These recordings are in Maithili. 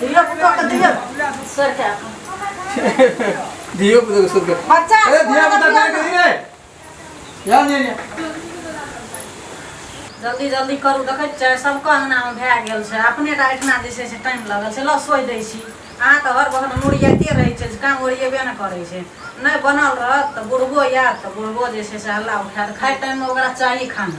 धियो पुतो के दियो सर के अपन धियो पुतो के सुर के बच्चा ए धिया पुता के के रे या ने ने जल्दी जल्दी करू देखै छै सबके अङ्गनामे भए गेल छै अपने टा एहिठिना जे छै से टाइम लगल छै लऽ सोहि दै छी अहाँ तऽ हर बहन मुड़ियाइते रहै छै जे काम ओरिएबे ने करै छै नहि बनल रहत तऽ बुढ़बो आयत तऽ बुढ़बो जे छै से हल्ला उठायत खाइ टाइममे ओकरा चाही खाना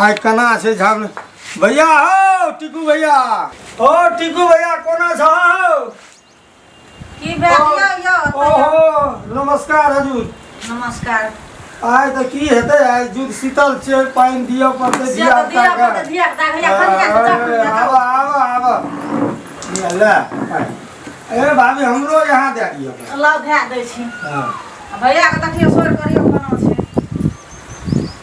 आइ केना छै झम भैया हौ टिकू भैया ओ टिकू भैया कोना छ हौ की ओहो नमस्कार हजुर नमस्कार आइ त की हेतै आइ जुग शीतल छै पानि दिअ पड़तै धिया आब आब आब ल ए भाभी हमरो यहाँ दए दिअ ल दए दै छी भैया के देखियो सोर करियो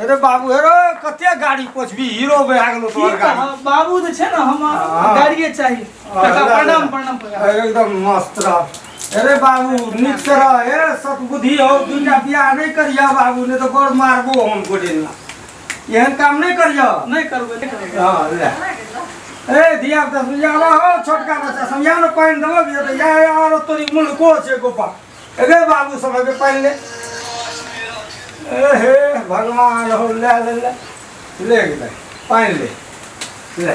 अरे बाबू अरे कते गाड़ी पोछबी हीरो बे आ गेलो तोहर गाड़ी बाबू जे छै ना हम हाँ। गाड़िए चाही काका प्रणाम प्रणाम एकदम मस्त रह अरे बाबू नीक से रह ए सतबुद्धि हो दूटा बियाह नहीं करिया बाबू ने तो गोड़ मारबो हम गोड़े ना एहन काम नहीं करियो नहीं करबे नहीं करबे हां ले ए धिया पुता समझा लो हो छोटका बच्चा समझा लो पानी दबो दियो तो या यार तोरी मुंह को छे गोपा अरे बाबू सब अबे पानी ले ए हे भगवान हो ले ले ले ले पानी ले ले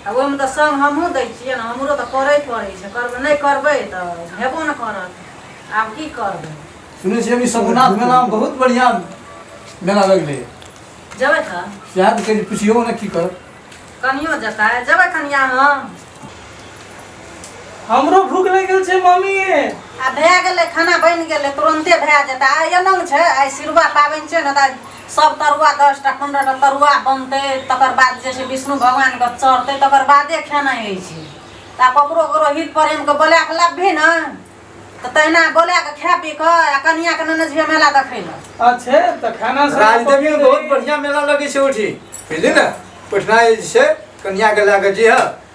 आ ओहिमे तऽ सङ्ग हमहूँ दै छियै ने हमरो तऽ करय पड़ै छै करबै नहि करबै तऽ हेबो ने करत आब की करबै सुनै छियै अभी सगुनाथ मेलामे बहुत बढ़िआँ मेला लगलै जेबै तऽ सएह तऽ कनि पुछियौ ने की करत कनियो जेतै जेबै कनिया हम हमरो भूख लागि गेल छै मम्मी आ भए गेलै खाना बनि गेलै तुरन्ते भए जेतै आइ एना छै आइ सिरुआ पाबनि छै ने तऽ आइ सब तरुआ दस टा पंद्रह टा तरुआ बनतै तकर बाद जे छै विष्णु भगवानके चढ़तै तकर बादे खेनाइ होइ छै तऽ आब ककरो ककरो हित प्रेमके बोला कऽ लबही ने तऽ तहिना बोला कऽ खा पी कऽ आ कनियाँके नेने जइहे मेला देखै लए अच्छे तऽ खाना सब राजदेवी में पकड़े बहुत रही। बढ़िया मेला लगे छै उठी बुझली ना पटना जे छै कन्या के लए के जी ह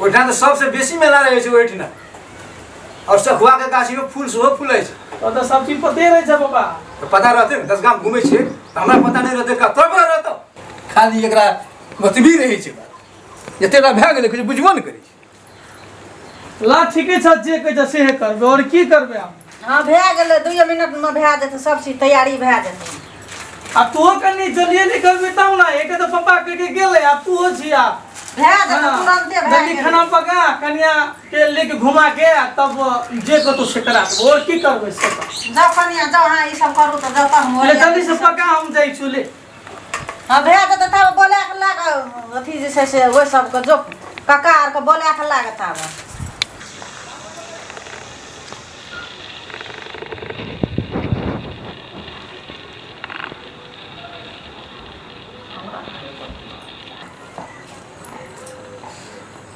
ओहिठाम तऽ सबसँ बेसी मेला रहै छै ओहिठिना आओर सखुआके गाछीमे फूल सेहो फूलै छै ओ तऽ सब चीज पते रहै छै पापा तऽ पता रहतै ने दस गाम घूमै छियै तऽ हमरा पता नहि रहतै कतऽ पर रहतौ खाली एकरा बतबी रहै छै बात जतेक टा भए गेलै किछु बुझबो नहि करै छै ला ठीके छ जे कहै छ सेहे करबे और की करबे हम हाँ भए गेलै दुइए मिनटमे भए जेतै सब चीज तैयारी भए जेतै आ तू कनी जल्दी निकलबे तब ना एक तो पापा कह के गेले आ तू हो छिया भए जेतै तुरंते भए जल्दी गेलै खाना पका कनिया के लेके घुमा के आ तब जे कतो से करा देबो और की करबे से कर। जाउ कनिया जाउ अहाँ ई सब करू तऽ जतऽ हम ले ओरिया जल्दी से देबै। पका हम जाइ छु ले हँ भए जेतै तब बोला कऽ लए कऽ अथी जे छै से ओहि सबके जो कका आरके बोला कऽ लए कऽ तब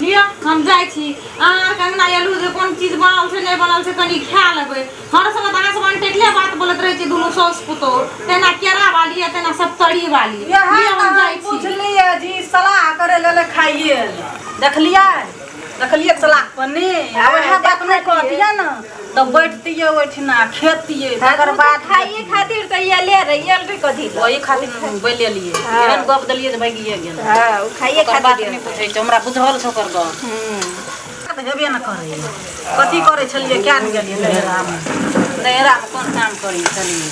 लिअ हम जाइ छी अहाँ कंगना एलू जे कोन चीज बनल छै नहि बनल छै कनि खा लेबै हर समय तऽ अहाँ सब अनटेकले बात बोलैत रहै छी दुनू साउस पुतोह तेना केरा वाली आ तेना सप्तरी वाली लिअ हम जाइ छी पूछलियै जी सलाह करे लेले खाइए देखलियै देखलियै सलाह पन्नी आ वएह बात नहि कहतियै ने तो बैठतिए ओठिना खेतिए तकर बाद खाइए खातिर तो ये ले रही है रे कथी ला वही खातिर बोले लिए हाँ। एहन गप देलिए जे भागिए गेल हां उ खाइए ओकर बात खातिर नहीं पूछे छै हमरा बुझल छौ ओकर गप हम्म तऽ हेबे ने करै कथी करै छलियै किया ने गेलियै नैहरामे नैहरामे कोन काम करै छलियै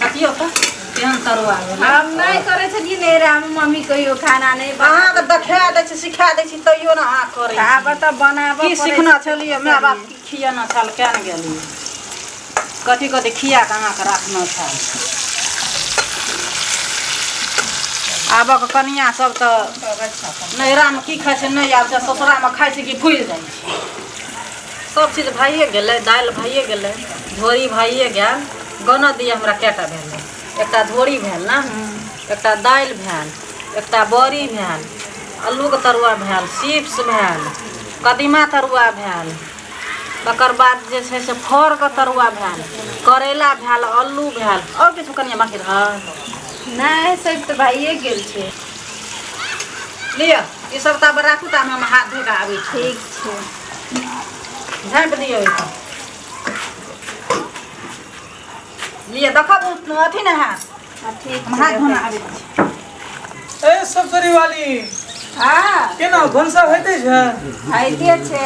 अथियो कऽ केहन तरुआ भेलै हम नहि करै छलियै ने रे हम मम्मी कहियो खाना नहि बना अहाँके देखा दै छी सिखा दै छी तैयो ने अहाँ करै छी। आब तऽ बनाबऽ की पड़ै सिखना छै। छलियै माय बाप की खियेना छल किया ने गेलियै कथी कथी खिया कऽ अहाँके राखना छल आबक कनिया सब तऽ नैहरामे की खाइ छै नहि आबै छै ससुरामे खाइ छै कि भूलि जाइ छै सब चीज भइए गेलै दालि भइए गेलै धोरी भइए गेल गनऽ दिअ हमरा कएटा भेल एकटा धोरी भेल ने एकटा दालि भेल एकटा बड़ी भेल अल्लूके तरुआ भेल चिप्स भेल कदीमा तरुआ भेल तकर बाद जे छै से फरके तरुआ भेल करैला भेल अल्लू भेल आओर किछु कनिया बाँकी रहल नहि सब तऽ भइए गेल छै लिअ ई सब तऽ आब राखू तऽ हम हाथ धोके आबै छी ठीक छै झाँपि दियौ ओहिपर लिअ देखब ओ अथी ने हैत हाँ, ठीक हम हाथ धोना आबै छी ए सब करी वाली हाँ केना भनसा होइते छै आइते छै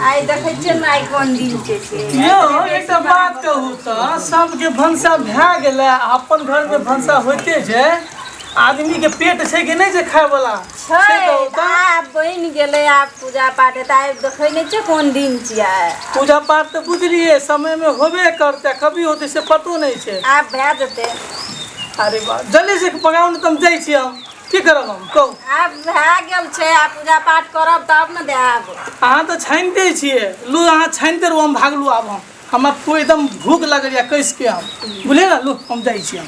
आइ देखै छियै ने आइ कोन दिन छै से यौ एकटा बात कहू तऽ सबके भनसा भए गेलै आ अपन घरमे भनसा होइते छै आदमीके पेट छै कि नहि छै खायवला से छै कहू तऽ आब बनि गेलै आब पूजा पाठ हेतै आइ देखै नहि छियै कोन दिन छियै पूजा पाठ तऽ बुझलियै समय मे होबे करतै कभी होतै से पतो नहि छै आब भए जेतै अरे बाह जल्दी से पकाउ ने तऽ हम जाइ छी हम की करब हम कहू आब भए गेल छै आब पूजा पाठ करब तब ने देब अहाँ तऽ छानिते छियै लू अहाँ छानिते रहू हम भागलू आब हम हमरा पूरा एकदम भूख लगल यऽ कैस के हम बुझलियै ने लू हम जाइ छी हम